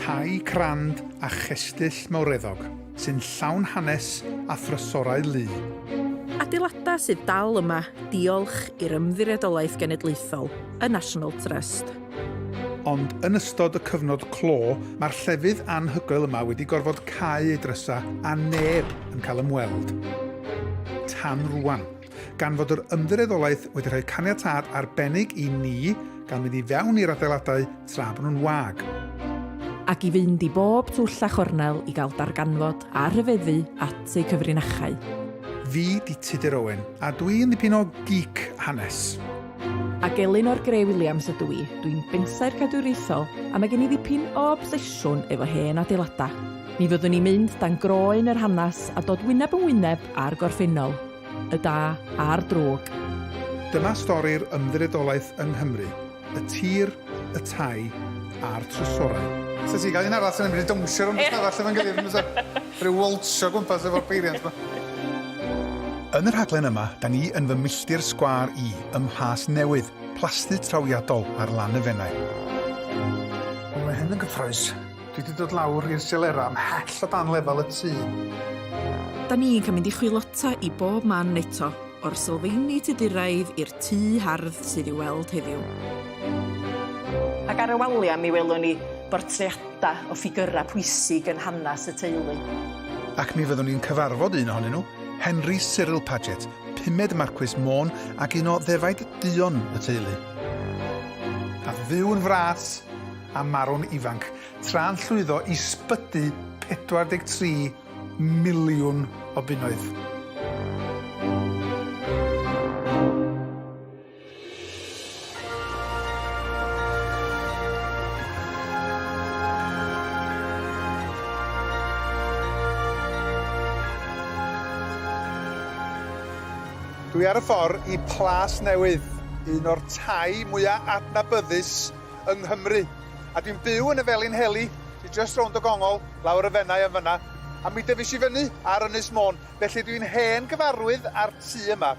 Tai crand a chestyll mawreddog sy'n llawn hanes a thrysorau lu. Adeiladau sydd dal yma diolch i'r Ymddiriedolaeth Genedlaethol, y National Trust. Ond yn ystod y cyfnod clo, mae'r llefydd anhygoel yma wedi gorfod cau ei drysau a neb yn cael ymweld tan rwan. gan fod yr ymddiriedolaeth wedi rhoi caniatâd arbennig i ni gael mynd i fewn i'r adeiladau tra bod nhw'n wag. Ac i fynd i bob twll a chornel i gael darganfod a rhyfeddu at eu cyfrinachau. Fi 'di Tudur Owen, a dwi yn ddipyn o geek hanes. A gelyn o'r Grey Williams ydw i, dwi'n bensaer cadwriaethol a mae gen i ddipyn o obsesiwn efo hen adeiladau. Mi fyddwn ni'n mynd dan groen yr hanes a dod wyneb yn wyneb â'r gorffennol. y da a'r drwg. Dyma stori'r ymddiriedolaeth yng Nghymru, y tir, y tai a'r trysorau. Sa ti'n cael un arall sy'n mynd i dawnsio rownd y stafell efo'n gilydd yn bysa? Rhyw walsio gwmpas efo'r peiriant 'ma. Yn y rhaglen yma, da ni yn fy milltir sgwâr i ym Mhlas Newydd, plasty trawiadol ar lan y Fenai. Mae hyn yn gyffrous. Dwi 'di dod lawr i'r Silera ymhell o dan lefel y tŷ. Da ni'n cael mynd i chwilota i bob man eto, o'r sylfeini Tuduraidd i'r tŷ hardd sydd i'w weld heddiw. Ac ar y waliau mi welwn ni bortreadau o ffigyrau pwysig yn hanes y teulu. Ac mi fyddwn ni'n cyfarfod un ohonyn nhw, Henry Cyril Paget, pumed Marcwis Môn ac un o ddefaid duon y teulu. A fyw yn fras! a marw'n ifanc, tra'n llwyddo i sbydu 43 miliwn o bunnoedd. Dwi ar y ffor i Plas Newydd, un o'r tai mwya adnabyddus yng Nghymru. A dwi'n byw yn y Felinheli, sy jyst rownd y gongol, lawr y Fenai yn fan'na. A mi dyfis i fyny ar Ynys Môn, felly dwi'n hen gyfarwydd â'r tŷ yma.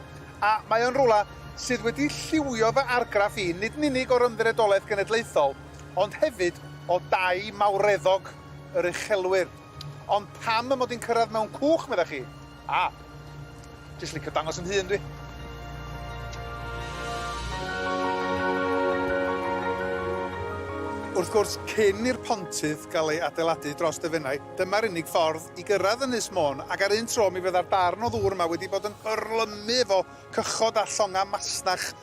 A mae o'n rwla sydd wedi lliwio fy argraff i, nid yn unig o'r Ymddiriedolaeth Genedlaethol, ond hefyd o dai mawreddog yr uchelwyr. Ond pam mod i'n cyrraedd mewn cwch, meddach chi? A! Jyst licio dangos 'yn hun dwi. Wrth gwrs, cyn i'r pontydd gael ei adeiladu dros y Fenai, dyma'r unig ffordd i gyrraedd Ynys Môn, ac ar un tro mi fydda'r darn o ddŵr yma wedi bod yn hyrlymu efo cychod a llongau masnach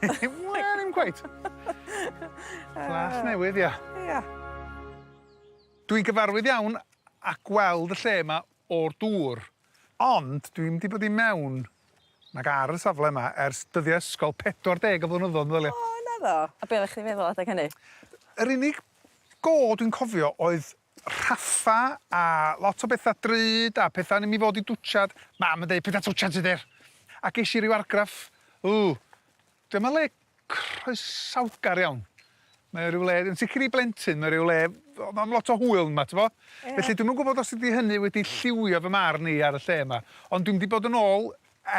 Wel, ddim cweit. Flas newydd, ia. Ia. Dwi'n gyfarwydd iawn â gweld y lle yma o'r dŵr, ond dwi'm 'di bod i mewn nag ar y safle yma ers dyddia' ysgol, 40 o flynyddodd, meddylia. O, naddo? A be' oddach chdi'n feddwl adag hynny? Yr unig go dwi'n cofio oedd Rhaffa a lot o betha drud a petha yn mi fod i dwtshad. Mam yn deud petha twtshad sy der. A gesh i ryw argraff, ww, dyma le croesawgar iawn. Mae o ryw le, yn sicr i blentyn, mae o ryw le o- am lot o hwyl yma, t'bo'? Ie. Felly dwi'm yn gwbod os ydi hynny wedi lliwio fy marn i ar y lle yma, ond dwi'm 'di bod yn ôl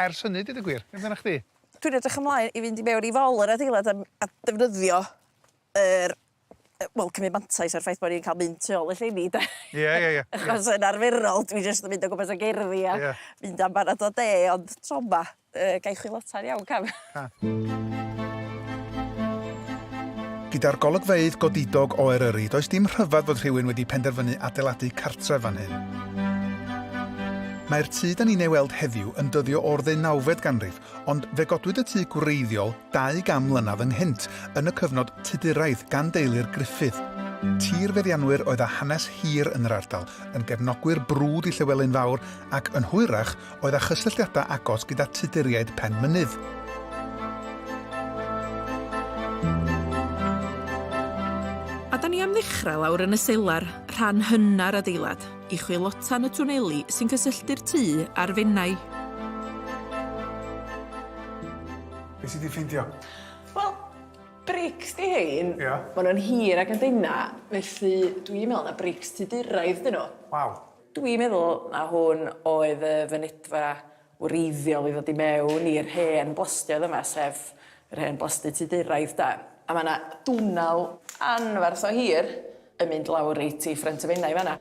ers hynny, deud y gwir. Be' amdanach chdi? Dwi'n edrych ymlaen i fynd i mewn i fol yr adeilad a m- a defnyddio yr wel, cymryd mantais ar y ffaith bod ni'n cael mynd tu ôl y llenni, de. Ie, ie, ie. Achos yn arferol, dwi jyst yn mynd o gwmpas y gerddi a yeah. mynd am barad o de, ond tro yma, uh, gai chwilota'n iawn, cam. Gyda'r golygfeydd godidog o Eryri, does dim rhyfedd fod rhywun wedi penderfynu adeiladu cartref fan hyn. Mae'r tŷ da ni'n ei weld heddiw yn dyddio o'r ddeunawfed ganrif, Ond fe godwyd y tŷ gwreiddiol dau gan mlynedd ynghynt, yn y cyfnod Tuduraidd, gan deulu'r Gruffydd. Tirfeddianwyr oedd â hanes hir yn yr ardal, yn gefnogwyr brwd i Llywelyn Fawr ac, yn hwyrach, oedd â chysylltiadau agos gyda Tuduriaid Penmynydd. A da ni am ddechrau lawr yn y selar, rhan hynna'r adeilad. i chwilotan y twneli sy'n cysylltu'r tŷ a'r Fenai. Be sydd wedi ffeindio? Wel, brics di hein. Ia. Maen nhw'n hir ac yn dyna, felly dwi'n meddwl na brics tu dyrraedd dyn nhw. Waw. Dwi'n meddwl na hwn oedd y fynedfa wreiddiol i ddod i mewn i'r hen blastioedd yma, sef yr hen blasty Tuduraidd 'de. A ma' 'na dwnnel anferth o hir yn mynd lawr reit i ffrynt y Fenai fan'na.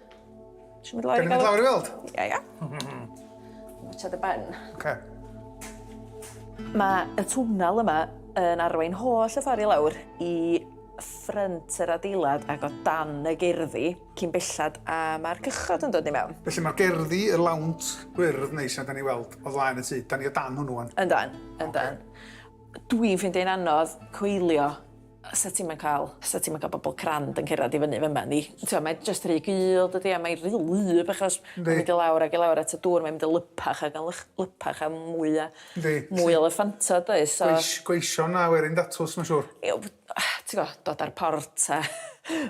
Isio mynd lawr i gael... Gawn ni mynd lawr i weld? Ia ia. Watsia dy ben. Oce. Ma' y twnnel yma yn arwain holl y ffor i lawr i ffrynt yr adeilad ac o dan y gerddi. cyn bellad a mae'r cychod yn dod i mewn. Felly mae'r gerddi, y lawnt gwyrdd neis yna da ni'n weld o flaen y tŷ, da ni o dan hwnnw wan. Yndan, yndan. Okay. Dwi'n ffeindio hi'n anodd coelio sa ti'n ma'n cael, sa ti'n ma'n cael bobl crand yn cerdded i fyny fyma ni. Ti'n mae just rhy gul, dydy, a mae'n rhy lyb achos mae'n mynd i lawr ac i lawr at y dŵr, mae'n mynd i lypach ac yn lypach a mwy a mwy o lyffantod, does? So... Gweision a werin datws, mae'n siŵr. ti gwbo dod a'r port a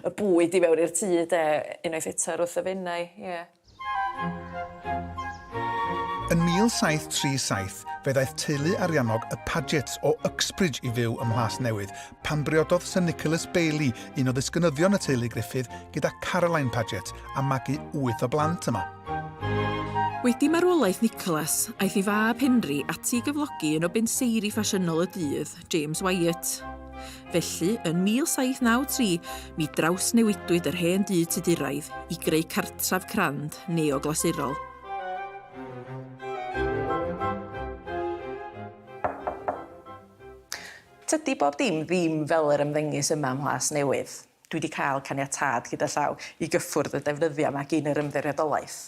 y bwyd i mewn i'r tŷ 'de unwaith eto ar wrth y Fenai ie. Yn 1737 fe ddaeth teulu ariannog y Pagets o Uxbridge i fyw ym Mhlas Newydd pan briododd Sir Nicholas Bailey, un o ddisgynyddion y teulu Griffith, gyda Caroline Paget a magu wyth o blant yma. Wedi marwolaeth Nicholas, aeth ei fab Henry ati i gyflogi un o benseiri ffasiynol y dydd, James Wyatt. Felly, yn 1793, mi drawsnewidwyd yr hen dŷ Tuduraidd i greu cartref crand neoglasurol. Tydi bob dim ddim fel yr ymddengys yma ym Mhlas Newydd. Dwi wedi cael caniatâd gyda llaw i gyffwrdd y defnyddiau yma gyn yr Ymddiriedolaeth.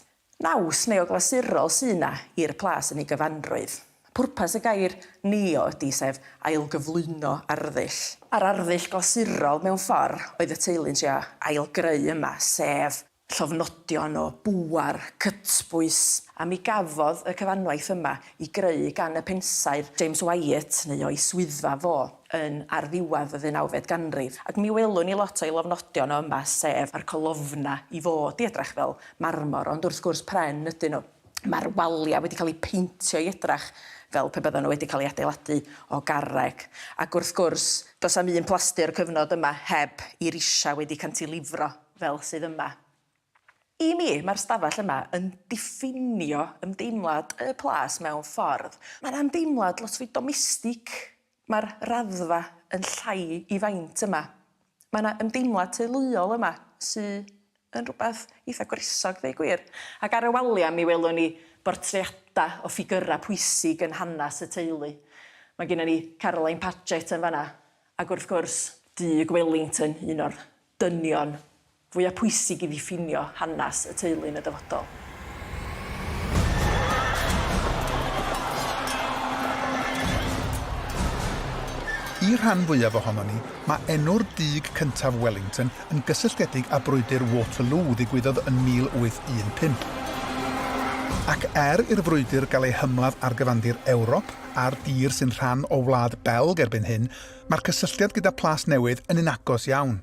Naws neoglasurol sy' 'na i'r plas yn ei gyfanrwydd. Pwrpas y gair 'neo' ydi, sef ailgyflwyno arddull. A'r arddull glasurol, mewn ffor', oedd y teulu'n trio ailgreu yma, sef llofnodion o bŵer, cytbwys, a mi gafodd y cyfanwaith yma 'i greu gan y pensaer James Wyatt, neu o'i swyddfa fo. yn ar ddiwedd y ddeunawfed ganrif, ac mi welwn ni lot o'i lofnodion o yma, sef a'r colofna i fod i edrach fel marmor, ond wrth gwrs pren ydyn nhw. Mae'r waliau wedi cael eu peintio i edrach fel pe byddan nhw wedi cael eu adeiladu o garreg, ac wrth gwrs, does am un plasty o'r cyfnod yma heb i risiau wedi cantilifro fel sydd yma. I mi, mae'r stafell yma yn diffinio ymdeimlad y plas mewn ffordd. Mae'n ymdeimlad lot fwy domestig Mae'r raddfa yn llai i faint yma. Mae 'na ymdeimlad teuluol yma sy yn rhywbeth eitha' gwresog ddeu' gwir. Ac ar y walia' mi welwn ni bortreada' o ffigyra' pwysig yn hanes y teulu. Mae gynnon ni Caroline Paget yn fan'na ac wrth gwrs, Duke Wellington, un o'r dynion fwyaf pwysig i ddiffinio hanes y teulu yn y dyfodol. I'r rhan fwyaf ohonon ni, mae enw'r dug cyntaf Wellington yn gysylltiedig â Brwydr Waterloo ddigwyddodd yn 1815. Ac er i'r frwydr gael ei hymladd ar gyfandir Ewrop a'r dir sy'n rhan o Wlad Belg erbyn hyn, mae'r cysylltiad gyda Plas Newydd yn un agos iawn.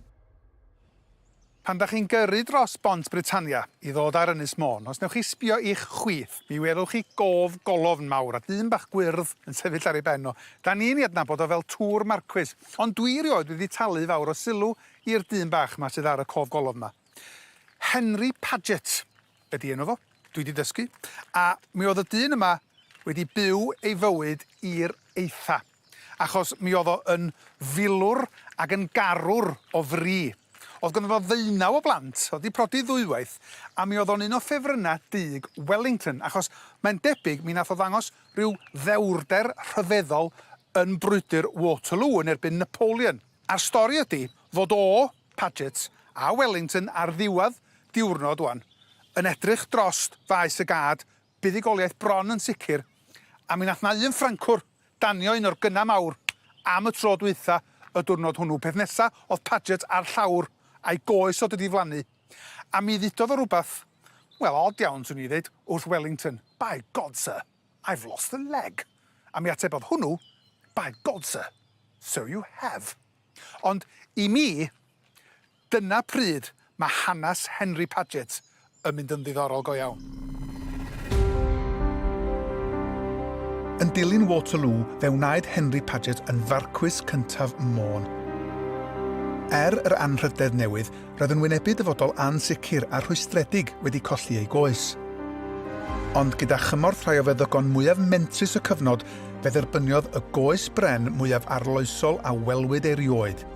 Pan dach chi'n gyrru dros bont Britannia i ddod ar Ynys Môn, os newch chi sbio i'ch chwith, mi welwch chi gof golofn mawr a dyn bach gwyrdd yn sefyll ar ei ben o. Da ni'n ei adnabod o fel Tŵr Marcwis, ond dwi erioed wedi talu fawr o sylw i'r dyn bach 'ma sydd ar y cof golofn 'ma. Henry Paget. ydi enw fo, dwi 'di dysgu, a mi o'dd y dyn yma wedi byw ei fywyd i'r eitha, achos mi o'dd o yn filwr ag yn garwr o fri. O'dd gynno fo ddeunaw o blant, o'dd 'di prodi ddwywaith, a mi o'dd o'n un o ffefrynna dug Wellington, achos mae'n debyg mi nath o ddangos ryw ddewrder rhyfeddol yn brwydr Waterloo yn erbyn Napoleon. A'r stori ydi fod o Paget a Wellington ar ddiwedd diwrnod wan, yn edrych drost faes y gad, buddugoliaeth bron yn sicr, a mi nath 'na un Ffrancwr danio un o'r gynna mawr am y tro dwytha y dwrnod hwnnw, peth nesa odd Paget a'r llawr a'i goes o di diflannu, a mi ddudodd o rwbath, wel od iawn swn i ddeud, wrth Wellington, By God sir, I've lost a leg! a mi atebodd hwnnw, By God sir, so you have! Ond i mi, dyna pryd mae hanes Henry Paget yn mynd yn ddiddorol go iawn. Yn dilyn Waterloo, fe wnaed Henry Paget yn Farcwys cyntaf Môn. Er yr anrhydedd newydd, roedd yn wynebu dyfodol ansicr a rhwystredig wedi colli ei goes. Ond gyda chymorth rhai o feddygon mwyaf mentrus y cyfnod, fe dderbyniodd y goes bren mwyaf arloesol a welwyd erioed,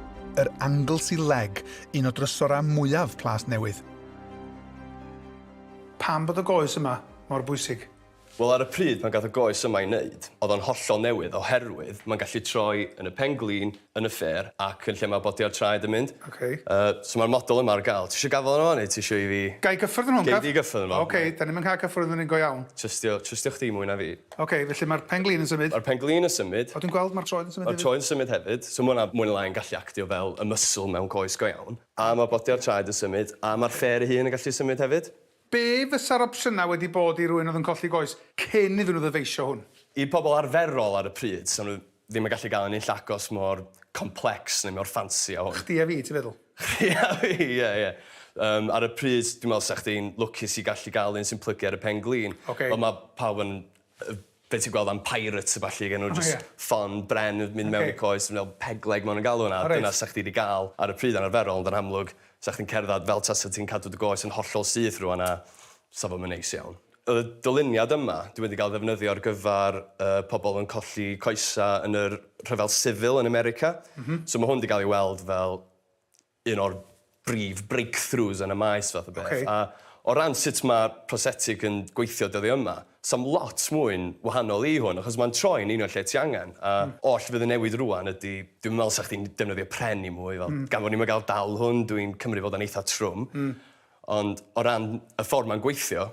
yr Anglesey Leg, un o drysorau mwyaf Plas Newydd. Pam bod y goes yma mor bwysig? Wel, ar y pryd pan gath y goes yma ei wneud, oedd o'n hollol newydd oherwydd mae'n gallu troi yn y pen-glin, yn y ffêr ac yn lle mae bodiau'r traed yn mynd. Ok. Yy, so mae'r model yma ar gael. Ti isio gafael arno fo neu ti isio i fi... Ga i gyffwrdd arno fo yn caf? Gei di gyffwrdd arno fo. Ok, dan ni'm yn cael cyffwrdd arno fo'n go iawn. Trystio, trystio chdi mwy na fi. Ok, felly mae'r pen-glin yn symud. Mae'r pen-glin yn symud. O, dwi'n gweld mae'r troed yn symud hefyd. Mae'r troed yn symud hefyd. So mae hwnna mwy neu lai yn gallu actio fel y muscle mewn coes go iawn. A mae bodiau'r traed yn symud a mae'r ffêr ei hun yn gallu symud hefyd. Be fysa'r opsiynau wedi bod i rywun oedd yn colli goes cyn iddyn nhw ddyfeisio hwn? I pobl arferol ar y pryd, 'sa nhw ddim yn gallu gael un unlle agos mor complex neu mor ffansi â hwn. Chdi a fi, ti'n feddwl? Chdi a fi, ie, ie. Yym, ar y pryd, dwi'n meddwl 'sa chdi'n lwcus i gallu gael un sy'n plygu ar y pen-glin. Ocê. Ond mae pawb yn Yy be' ti'n gweld am pirates a ballu ag enw jyst ffon bren yn mynd mewn i coes fel pegleg ma' nw'n galw wnna a dyna sa chdi 'di ga'l ar y pryd anarferol ond yn amlwg sa chdi'n cerddad fel tasa ti'n cadw dy goes yn hollol syth rŵan a sa fo'm yn neis iawn. O'dd y dyluniad yma 'di wedi ga'l ddefnyddio ar gyfar yy pobol yn colli coesa yn yr rhyfel sifil yn America. M-hm. So ma' hwn 'di ga'l ei weld fel un o'r brif breakthroughs yn y maes fath o beth. A o ran sut mae prosetig yn gweithio dyddiau yma, sa'm lot mwy'n wahanol i hwn, achos mae'n troi'n union lle ti angen. A oll fydd yn newid rŵan ydi, dwi'm yn meddwl 'sa chdi'n defnyddio pren i mwy, fel gan fod ni'm yn gael dal hwn, dwi'n cymryd fod o'n eitha trwm. Ond o ran y ffordd mae'n gweithio,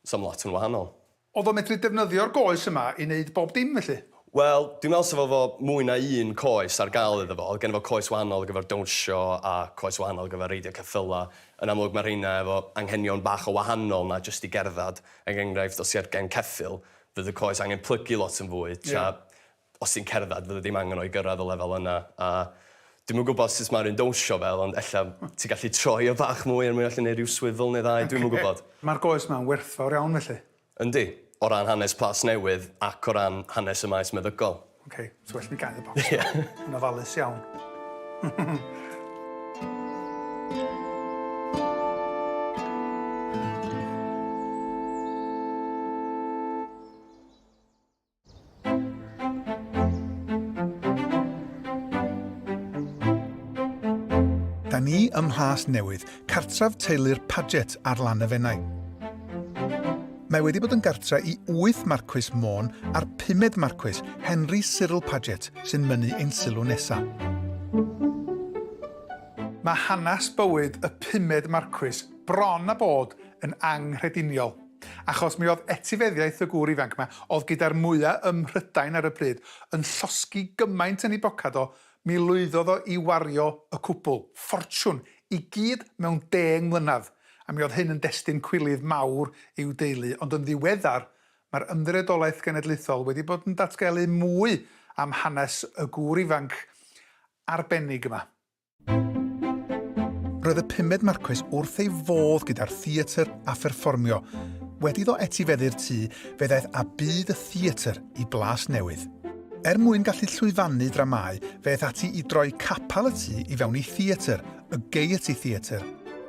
Sa'm lot yn wahanol. Odd o'n medru defnyddio'r goes yma i neud bob dim felly? Wel, dwi'n meddwl sa fo efo mwy na un coes ar gael iddo fo. Odd genno fo coes wahanol ar gyfer dawnsio a coes wahanol ar gyfer reidio ceffyla. Yn amlwg ma' rheina efo anghenion bach o wahanol na jyst i gerddad. Er enghraifft, os ti ar gen ceffyl, fydd y coes angen plygu lot yn fwy, tra os ti'n cerdded fydde dim angen o i gyrraedd y lefel yna a dwi'm yn gwybod sut mae'r un dawnsio fel ond ella ti'n gallu troi o bach mwy er mwyn allu neud rhyw swivel neu ddau dwi'm yn gwybod. Mae'r goes ma'n werthfawr iawn felly. Yndi. O ran hanes Plas Newydd ac o ran hanes y maes meddygol. Ok, so well mi gael y bocs. Ie. Yn ofalus iawn. Da ni ym Mhlas Newydd, cartref teulu'r Paget ar lan y Fenai. Mae wedi bod yn gartre i wyth marcwys Môn a'r pumed marcwys, Henry Cyril Paget, sy'n mynnu ein sylw nesaf. Mae hanes bywyd y pumed marcwys bron a bod yn anghrediniol. Achos mi oedd etifeddiaeth y gŵr ifanc 'ma, oedd gyda'r mwya ym Mhrydain ar y pryd, yn llosgi gymaint yn ei bocad o, mi lwyddodd o i wario y cwbl, ffortiwn, i gyd mewn deng mlynedd, a mi oedd hyn yn destun cwilydd mawr i'w deulu, ond yn ddiweddar, mae'r Ymddiriedolaeth Genedlaethol wedi bod yn datgelu mwy am hanes y gŵr ifanc arbennig yma. Roedd y pumed Marquis wrth ei fodd gyda'r theatr a pherfformio. Wedi ddo etifeddu'r tŷ, fe ddaeth a byd y theatr i blas newydd. Er mwyn gallu llwyfannu dramau, fe eth ati i droi capel y tŷ i fewn i theatr, y Gaiety Theatre.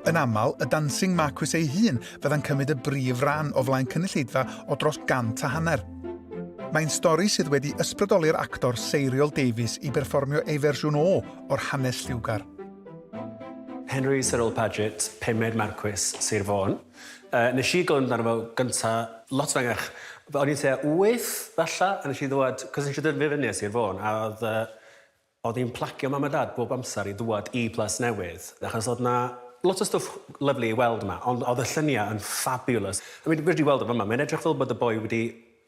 Yn aml, y Dancing Marquis ei hun fydda'n cymryd y brif ran o flaen cynulleidfa o dros gant a hanner. Mae'n stori sydd wedi ysbrydoli'r actor seiriol Davies i berfformio ei fersiwn o o'r hanes lliwgar. Henry Cyril Paget, pumed Marcwis Sir Fôn. Uh, nes i glywed amdano fo gynta lot fengach. O'n i'n tua wyth, falla, a nes i ddwad, cos nes i dyrfu fyny a Sir Fôn, a oedd, uh, oedd hi'n plagio mam a dad bob amser i ddwad i Plas Newydd, achos oedd na lot o stwff lyflu i weld yma, ond oedd y lluniau yn fabulous. I mean, wedi weld o fyma, mae'n edrych fel bod y boi wedi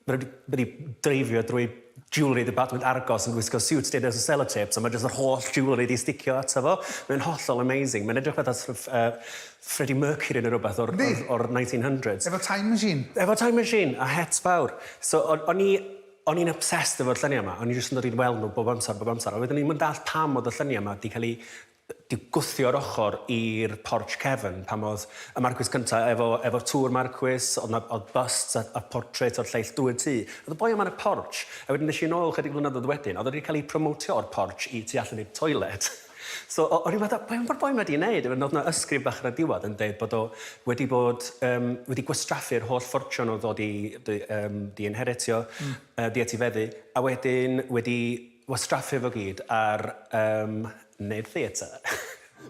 Mae nhw wedi dreifio drwy jewellery department Argos yn gwisgo siwt deuda o selotêps a mae jyst yr holl jewellery wedi sticio ato fo. Mae'n hollol amazing. Mae'n edrych fatha sort of uh, Freddie Mercury neu rhywbeth o'r, o'r, o'r 1900s. Efo time machine. Efo time machine a het fawr. So o'n i o'n i'n obsessed efo'r lluniau yma. O'n i jyst yn dod i'n weld nhw bob amser, bob amser. A wedyn o'n i'n yn dall pam oedd y lluniau yma wedi cael ei Dyw gwthio ar ochr i'r porch cefn, pan oedd y Marquis cynta efo efo tŵr Marquis, oedd 'na oedd busts a a portreits o'r lleill dwyn tŷ. Oedd y boi yma yn y porch, a wedyn es i nôl chydig flynyddoedd wedyn, oedd o 'di cael ei promotio o'r porch i tu allan i'r toilet. So o- o'n i fatha, be' ma'r boi 'ma 'di neud? A wedyn oedd 'na ysgrif bach ar y diwedd yn deud bod o wedi bod yym wedi gwastraffu'r holl ffortiwn oedd o 'di 'di yym 'di inheritio, yy 'di etifeddu, a wedyn wedi Wastraffu fo gyd ar yym neud theatr.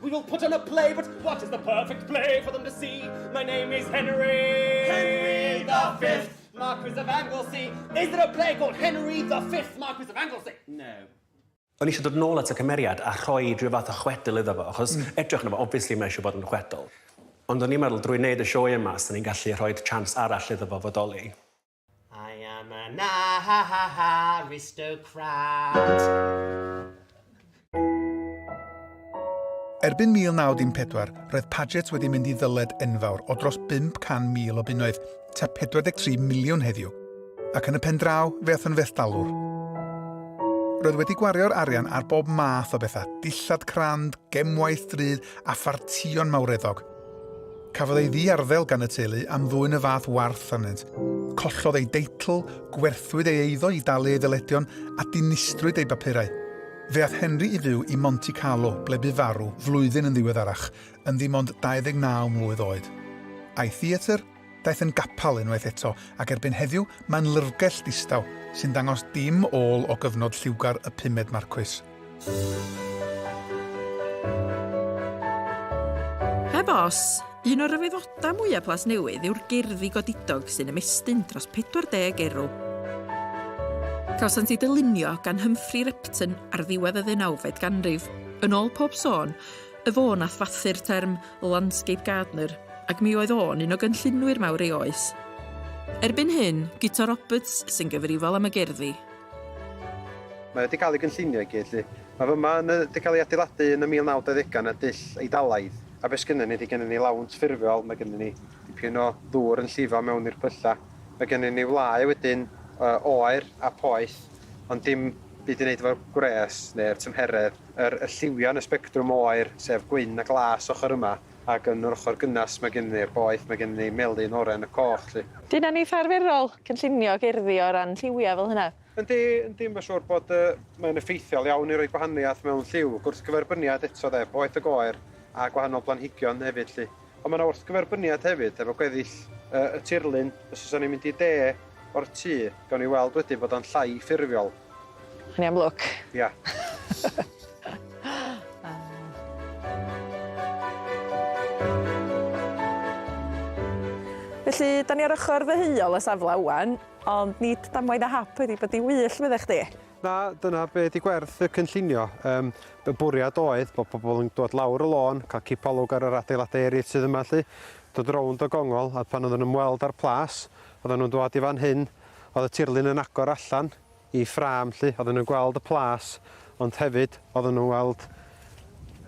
We will put on a play but what is the perfect play for them to see My name is Henry Henry the fifth Marquis of Anglesey Is there a play called Henry the fifth Marquis of Anglesey? No. O'n i eisiau dod nôl at y cymeriad a rhoi rhyw fath o chwedl iddo fo achos edrych arno fo obviously mae eisiau bod yn chwedl ond o'n i'n meddwl drwy wneud y sioe yma 'sen ni'n gallu rhoid chance arall iddo fo fodoli. I am an aristocrat. Erbyn 1914, roedd Paget wedi mynd i ddyled enfawr o dros 500,000 o bunnoedd, ta 43 miliwn heddiw, ac yn y pen draw fe ath yn felldalwr. Roedd wedi gwario'r arian ar bob math o bethau, dillad crand, gemwaith drud a phartïon mawreddog – Cafodd ei ddiarddel gan y teulu am ddwyn y fath warth arnynt. Collodd ei deitl, gwerthwyd ei eiddo i dalu ei ddyledion a dinistrwyd ei bapurau. Fe ath Henry i fyw i Monte Carlo ble bu farw flwyddyn yn ddiweddarach, yn ddim ond 29 mlwydd oed. A'i theatr? Daeth yn gapel unwaith eto, ac erbyn heddiw mae'n lyrgell ddistaw, sy'n dangos dim ôl o gyfnod lliwgar y pumed Marcwis. Heb os, un o'r rhyfeddodau mwyaf Plas Newydd yw'r gerddi godidog sy'n ymestyn dros 40 erw. Cawsant eu dylunio gan Humphrey Repton ar ddiwedd y ddeunawfed ganrif. Yn ôl pob sôn, Y fo nath fathu'r term 'landscape gardener' ac mi oedd o'n un o gynllunwyr mawr ei oes. Erbyn hyn, Guto Roberts sy'n gyfrifol am y gerddi. Mae wedi cael ei gynllunio i gyd 'lly. Mae fy ma yn y wedi cael ei adeiladu yn y 1920au yn y dull Eidalaidd. A be sgynnon ni ydy gennyn ni lawnt ffurfiol, mae gennyn ni dipyn o ddŵr yn llifo mewn i'r pyllau, mae gennyn ni wlâu wedyn o oer a poeth ond dim byd i wneud efo'r gwres neu'r tymheredd. Yr y lliwian y sbectrwm o aer, sef gwyn a glas ochr yma, ac yn yr ochr gynnas mae gennym ni'r boeth, mae gennym ni melyn, oren a coch 'lly. Dyna yn eitha arferol, cynllunio gerddi o ran lliwiau fel hynna. Yndi, yndi, mae'n siŵr bod y... mae'n effeithiol iawn i roi gwahaniaeth mewn lliw, gwrthgyferbyniad eto 'de, boeth ag oer, a gwahanol blanhigion hefyd 'lly. Ond mae yna wrthgyferbyniad hefyd efo gweddill y, y tirlun. Os oes ni'n mynd i de o'r tŷ, gawn ni weld wedyn bod o'n llai ffurfiol. Yn iawn lwc. Ia. Felly, da ni ar ochr ddeheuol y safle ŵan, ond nid damwain a hap wedi bod i wyll, medda chdi? Na, dyna be di gwerth y cynllunio. Um, y bwriad oedd bod pobl yn dod lawr y lôn, cael cipolwg ar yr adeiladau eraill sydd yma lli, dod rownd o gongol, a pan oedden nhw'n ymweld â'r plas, oedden nhw'n dod i fan hyn, oedd y tirlun yn agor allan i ffram lli, oedden nhw'n gweld y plas, ond hefyd oedden nhw'n weld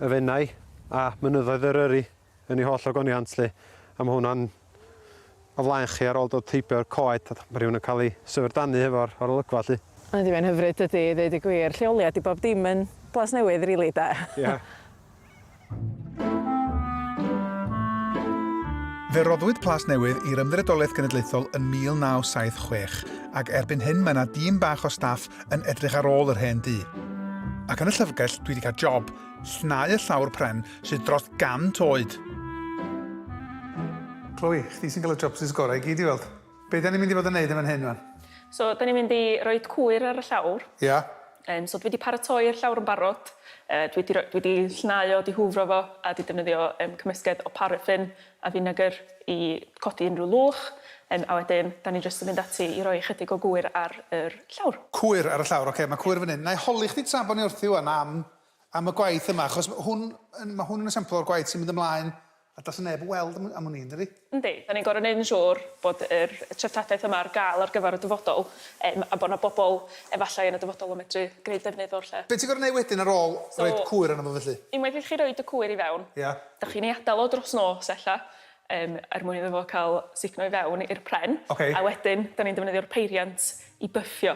y fenau a mynyddoedd yr yri. yn ei holl ogoniant 'lly, a ma' hwnna'n o flaen chi ar ôl dod heibio i'r coed, a ma' rhywun yn cael ei syfrdanu hefo'r o'r olygfa 'lly. Yndi mae'n hyfryd dydi, i ddeud y gwir, lleoliad i bob dim yn Plas Newydd rili 'de? Ia. Fe roddwyd Plas Newydd i'r Ymddiriedolaeth Genedlaethol yn 1976, ac erbyn hyn mae 'na dîm bach o staff yn edrych ar ôl yr hen dŷ. Ac yn y llyfrgell dwi 'di cael job, llnau y llawr pren, sydd dros 100 oed. Chloe, chdi sy'n cael y chopsticks gorau i gyd i weld. Be da ni'n mynd i fod yn neud yn fan hyn wan? So, da ni'n mynd i roid cwyr ar y llawr. Ia. Yym, so dwi di paratoi'r llawr yn barod. Yy, dwi di roi, dwi di llenau o, di hwfro fo, a di defnyddio yym cymysgedd o paraffin a finegr i codi unrhyw lwch. Yym, a wedyn, da ni jyst yn mynd ati i roi ychydig o gwyr ar yr llawr. Cwyr ar y llawr, ocê, ma' cwyr fan hyn. Na'i holi chdi tra bo ni wrthi wan am am y gwaith yma, achos hwn, mae hwn yn esiampl o'r gwaith sy'n mynd ymlaen a does neb yn weld am, am hwn i, yndydi? Yndi, da ni'n gorau neud yn siŵr bod yr treftadaeth yma ar gael ar gyfer y dyfodol, um, a bod na bobl efallai yn y dyfodol yn medru gwneud defnydd o'r lle. Be ti'n gorau neud wedyn ar ôl so, roed cwyr arno fo felly? Unwaith i chi roed y cwyr i fewn, yeah. da chi'n ei adael o dros nos ella, um, er mwyn iddo fo cael sugno i fewn i'r pren, okay. a wedyn da ni'n defnyddio'r peiriant i byffio.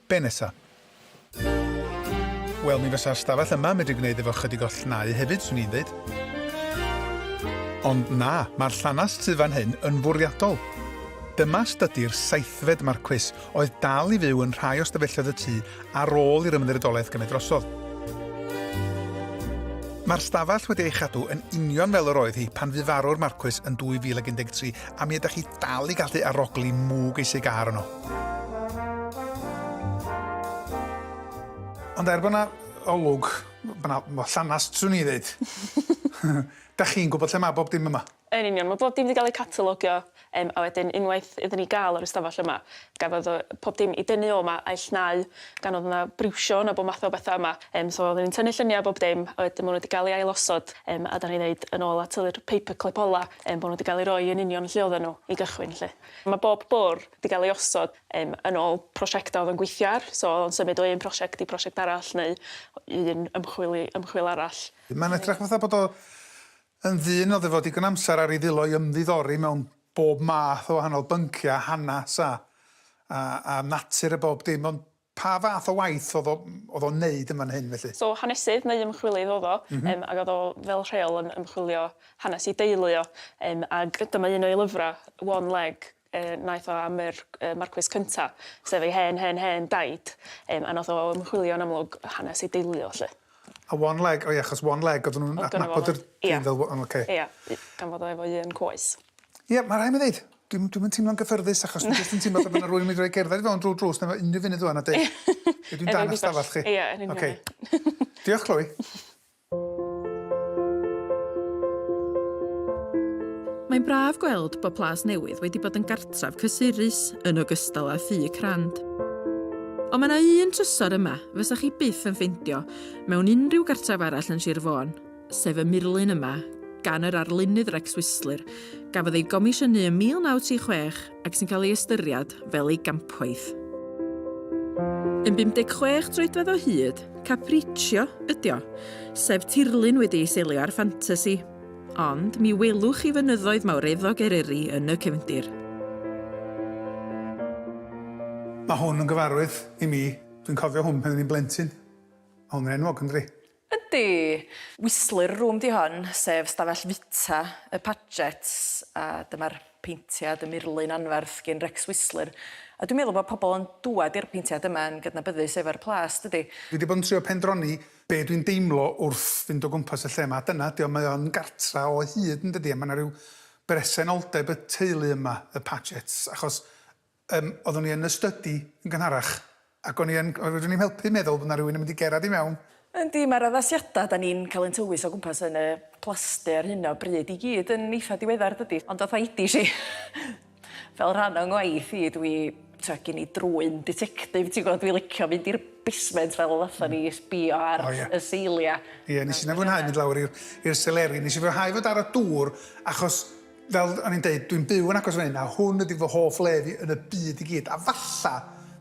Be nesa? Wel, mi fysa'r stafell yma medru gwneud efo chydig o llnau hefyd, swn i'n ddeud. Ond na, mae'r llanast sydd fan hyn yn fwriadol. Dyma stydi'r seithfed marcwys oedd dal i fyw yn rhai o stafelloedd y tŷ ar ôl i'r Ymddiriedolaeth gymryd drosodd. Mae'r stafell wedi ei chadw yn union fel yr oedd hi pan fu farw'r marcwys yn 2013 a mi ydych chi dal i gallu arogli mwg ei sigar yno. Ond er bod yna olwg, mae yna llanas, swn i ddeud. da chi'n gwybod lle mae bob dim yma? Yn union, mae bob dim wedi cael ei catalogio, um, a wedyn unwaith iddyn ni gael o'r ystafell yma, gafodd o, pob dim i dynnu o yma a'i llnau, gan oedd yna briwsio yna bod math o bethau yma. Um, so oeddwn ni'n tynnu lluniau bob dim, a wedyn maen nhw wedi cael ei ailosod, um, a da ni ddeud yn ôl at yr paperclip ola. Yym bod nhw 'di gael eu rhoi yn union lle oedden nhw i gychwyn 'lly. Mae bob bwrdd 'di gael ei osod yym yn ôl prosiectau oedd o'n gweithio ar, so oedd o'n symud o un prosiect i prosiect arall neu un ymchwil i ymchwil arall. Mae'n edrych fatha bod o yn ddyn oedd efo digon amser ar ei ddwylo i ymddiddori mewn bob math o wahanol bynciau, hanes a a a natur a bob dim ond Pa fath o waith oedd o, oedd o'n neud yn fan hyn felly? So hanesydd neu ymchwilydd oedd o, yym ag oedd o fel rheol yn ymchwilio hanes ei deulu o, yym ag dyma un o'i lyfra, One Leg, yy naeth o am yr yy Marcwis cynta, sef ei hen hen hen daid, yym a nath o ymchwilio yn amlwg hanes ei deulu o 'lly. A One Leg, o ia achos One Leg odden nhw'n adnabod yr dyn fel, o ocê. Ia, gan fod o efo un coes. Ia, ma' rhai' mi ddeud, Dwi'm, dwi'm yn teimlo'n gyffyrddus achos dwi jyst yn teimlo fel bod 'na rywun yn mynd i roi cerdded i fewn drwy'r drws neu unrhyw funud ŵan a deud Ie. Ydw i'n dan 'ych stafell chi? Ie, yn union. Ocê. Diolch, Chloe. Mae'n braf gweld bod Plas Newydd wedi bod yn gartref cysurus yn ogystal â thŷ crand. Ond mae yna un trysor yma fysa chi byth yn ffeindio mewn unrhyw gartref arall yn Sir Fôn, sef y murlun yma, gan yr arlunydd Rex Whistler, gafodd ei gomisiynu ym 1936 ac sy'n cael ei ystyried fel ei gampwaith. Yn 56 troedfedd o hyd, Capriccio ydy o, sef tirlun wedi ei seilio ar ffantasi, ond mi welwch chi fynyddoedd mawreddog Eryri yn y cefndir. Mae hwn yn gyfarwydd i mi. Dwi'n cofio hwn pan o'n i'n blentyn. Mae hwn yn enwog, yn dydi? Yndi! Whistler Room 'di hon, sef stafell fwyta y Pagets, a dyma'r paentiad, y murlun anferth gin Rex Whistler, a dwi'n meddwl bod pobl yn dŵad i'r paentiad yma yn gydnabyddus efo'r plas, dydi? Dwi 'di bod yn trio pendroni be' dwi'n deimlo wrth fynd o gwmpas y lle 'ma, a dyna 'di o, mae o'n gartra o hyd, yndydi, a ma' 'na ryw bresenoldeb y teulu yma, y Pagets, achos Yym, oeddwn i yn y stydi yn gynharach, ac o'n i yn, oedd fedrwn i'm helpu meddwl bod 'na rywun yn mynd i gerad i mewn. Yndi, mae'r addasiadau 'da ni'n cael ein tywys o gwmpas yn y plasty ar hyn o bryd i gyd yn eitha' diweddar, dydi? Ond fatha idish i, fel rhan o'n ngwaith i, dwi, tibod, gen i drwyn ditectif, ti'n gwybod, dwi'n licio mynd i'r basement fel y fatha ni i sbio ar y seiliau. Ie, wnes i ddim fwynhau mynd lawr i'r seleri. Wnes i fwynhau fod ar y dŵr achos Fel o'n i'n deud, dwi'n byw yn agos fan hyn a hwn ydi fy hoff le fi yn y byd i gyd, a falla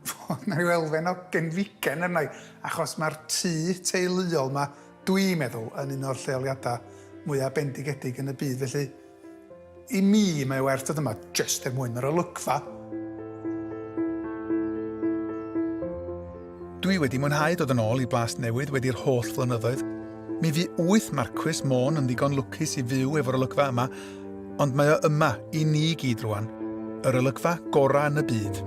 fod 'na ryw elfen o genfigen arna i achos mae'r tŷ teuluol 'ma, dwi'n meddwl, yn un o'r lleoliadau mwya bendigedig yn y byd, felly i mi mae werth dod yma jyst er mwyn yr olygfa. Dwi wedi mwynhau dod yn ôl i Blas Newydd wedi'r holl flynyddoedd. Mi fu wyth Marcwys Môn yn ddigon lwcus i fyw efo'r olygfa yma, ond mae o yma i ni i gyd rwan. Yr olygfa gorau yn y byd.